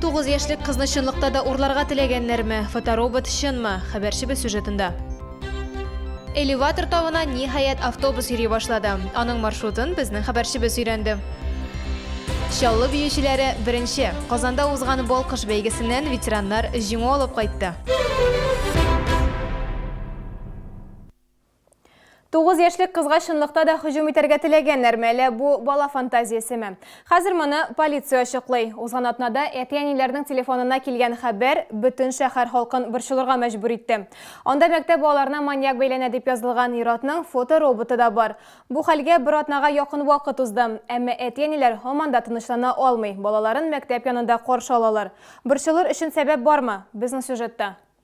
Тугыз яшьлек кызны чынлыкта да урларга теләгәннәрме? Фоторобот чынмы? Хәбәрчебез сюжетында. Элеватор тавына ниһаять автобус йөри башлады. Аның маршрутын безнең хәбәрчебез өйрәнде. Чаллы биючеләре беренче. Казанда узган Балкыш бәйгесеннән ветераннар җиңү алып кайтты. Тугыз яшьлек кызга чынлыкта да һөҗүм итәргә теләгәннәрме, әллә бу бала фантазиясеме? Хәзер моны полиция ачыклый. Узган атнада әти-әниләрнең телефонына килгән хәбәр бөтен шәһәр халкын борчылырга мәҗбүр итте. Анда мәктәп балаларына маньяк бәйләнә дип язылган ир-атның фотороботы да бар. Бу хәлгә бер атнага якын вакыт узды. Әмма әти-әниләр һаман да тынычлана алмый, балаларын мәктәп янында каршы алалар. Борчылыр өчен сәбәп бармы? Безнең сюжетта.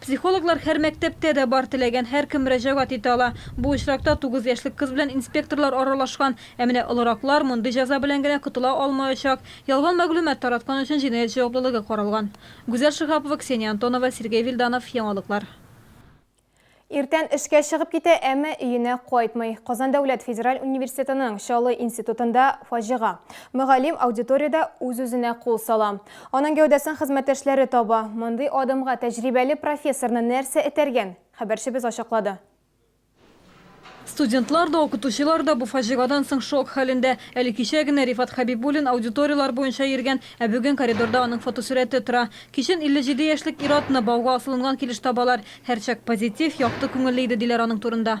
Психологлар һәр мәктәптә дә бар, теләгән һәркем мөрәҗәгать итә ала. Бу очракта тугыз яшьлек кыз белән инспекторлар аралашкан. Ә менә олыраклар мондый җәза белән генә котыла алмаячак. Ялган мәгълүмат тараткан өчен җинаять җаваплылыгы каралган. Гүзәл Шиһапова, Ксения Антонова, Сергей Вильданов, Яңалыклар. Иртән эшкә чыгып китә, әмма өенә кайтмый. Казан дәүләт федераль университетының Чаллы институтында фаҗига. Мөгаллим аудиториядә үз-үзенә кул сала. Аның гәүдәсен хезмәттәшләре таба. Мондый адымга тәҗрибәле профессорны нәрсә этәргән? Хәбәрчебез ачыклады. Студентлар да, укытучылар да бу фаҗигадан соң шок хәлендә. Әле кичә генә Рифат Хәбибуллин аудиторияләр буенча йөргән, ә бүген коридорда аның фотосурәте тора. Кичен 57 яшьлек ир-атны бауга асылынган килеш табалар. Һәрчак позитив, якты күңелле иде, диләр аның турында.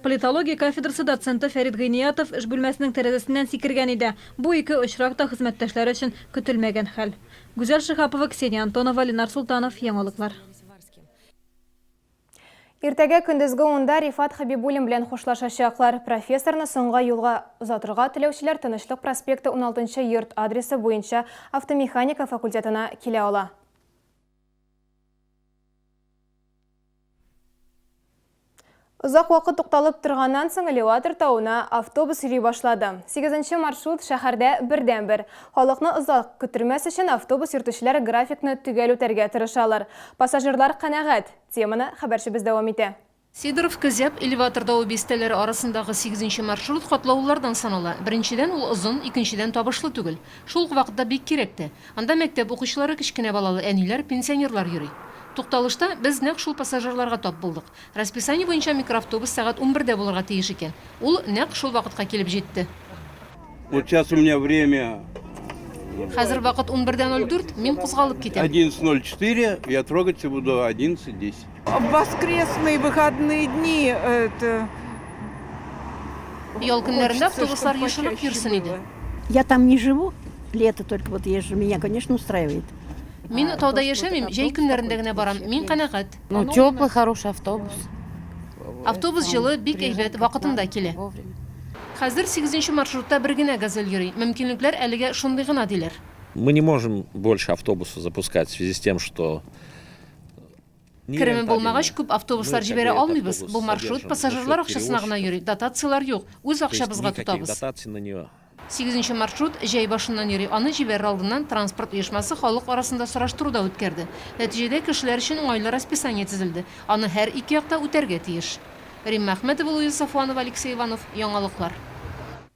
Политология кафедрасы доценты Фәрит Гыйниятов эш бүлмәсенең тәрәзәсеннән сикергән иде. Бу ике очрак та хезмәттәшләре өчен көтелмәгән хәл. Гүзәл Шиһапова, Ксения Антонова, Ленар Солтанов, Яңалыклар. Иртәгә көндезге унда Рифат Хәбибуллин белән хушлашачаклар. Профессорны соңга юлга озатырга теләүчеләр Тынычлык проспекты 16 нчы йорт адресы буенча автомеханика факультетына килә ала. Озак вакыт тукталып торганнан соң элеватор тавына автобус йөри башлады. Сигезенче маршрут шәһәрдә бердәнбер. Халыкны озак көттермәс өчен автобус йөртүчеләр графикны төгәл үтәргә тырышалар. Пассажирлар канәгать. Теманы хәбәрчебез дәвам итә. Сидоровка, Зяб, элеватор тавы бистәләре арасындагы сигезенче маршрут катлаулылардан санала. Беренчедән, ул озын, икенчедән, табышлы түгел. Шул ук вакытта бик кирәк тә. Анда мәктәп укучылары, кечкенә балалы әниләр, пенсионерлар йөри. Тукталышта без нәкъ шул пассажирларга тап булдык. Расписание буенча микроавтобус сәгать унбердә булырга тиеш икән. Ул нәкъ шул вакытка килеп җитте. Вот сейчас у меня время. Хәзер вакыт унбер дә ноль дүрт, мин кузгалып китәм. Одиннадцать ноль четыре, я трогаться буду одиннадцать десять. В воскресные выходные дни это Ял көннәрендә автобуслар ешынып йөрсен иде. Я там не живу, лето только вот езжу, меня, конечно, устраивает. Мин тауда яшәмим, җәй көннәрендә генә барам. Мин канәгать. Ну, теплый, хороший автобус. Автобус җылы, бик әйбәт, вакытында килә. Хәзер 8 маршрутта бер генә газель йөри. Мөмкинлекләр әлегә шундый гына диләр. Мы не можем больше автобусы запускать в связи с тем, что Кереме булмагач, күп автобуслар җибәрә алмыйбыз. Бу маршрут пассажирлар акчасына гына йөри, дотацияләр юк. Үз акчабызга тотабыз. Сигезенче маршрут җәй башыннан йөри. Аны җибәрер алдыннан транспорт оешмасы халык арасында сораштыру да үткәрде. Нәтиҗәдә кешеләр өчен уңайлы расписание төзелде. Аны һәр ике як та үтәргә тиеш. Римма Әхмәтова, Луиза Сафуанова, Алексей Иванов, Яңалыклар.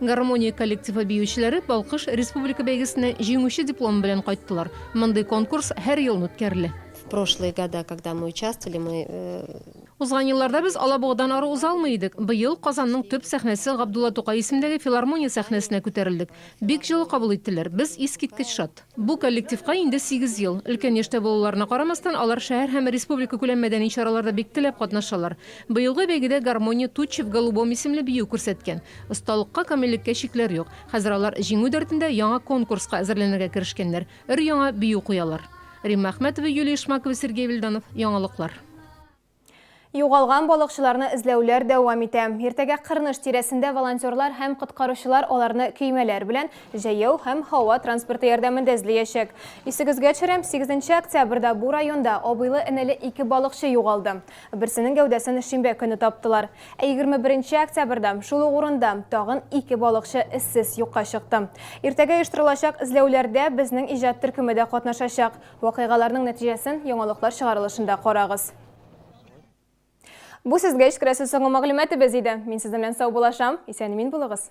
Гармония коллективы биючеләре Балкыш республика бәйгесенә җиңүче дипломы белән кайттылар. Мондый конкурс һәр елын үткәрелә. Прошлые года, когда мы участвовали, мы э, Узган елларда без Алабугадан ары уза алмый идек. Быел Казанның төп сәхнәсе Габдулла Тукай исемендәге филармония сәхнәсенә күтәрелдек. Бик җылы кабул иттеләр. Без искиткеч шат. Бу коллективка инде сигез ел. Өлкән яшьтә булуларына карамастан, алар шәһәр һәм республикакүләм мәдәни чараларда бик теләп катнашалар. Быелгы бәйгедә гармония Тучи в голубом исемле бию күрсәткән. Осталыкка, камиллеккә чикләр юк. Хәзер алар җиңү дәртендә яңа конкурска әзерләнергә керешкәннәр, өр-яңа бию куялар. Римма Әхмәтова, Юлия Шмакова, Сергей Вильданов, Яңалыклар. Югалган балыкчыларны эзләүләр дәвам итә. Иртәгә Кырныш тирәсендә волонтерлар һәм коткаручылар аларны көймәләр белән, җәяү һәм һава транспорты ярдәмендә эзлиячәк. Исегезгә төшерәм, 8 октябрьдә бу районда абыйлы-энеле ике балыкчы югалды. Берсенең гәүдәсен шимбә көне таптылар. Ә 21 октябрьдә шул ук урында тагын ике балыкчы эзсез юкка чыкты. Иртәгә оештырылачак эзләүләрдә безнең иҗат төркеме дә катнашачак. Вакыйгаларның нәтиҗәсен яңалыклар чыгарылышында карагыз. Бу сезгә эчкерәсе соңгы мәгълүматыбыз иде. Мин сезнең белән сау булашам. Исән-имин булыгыз.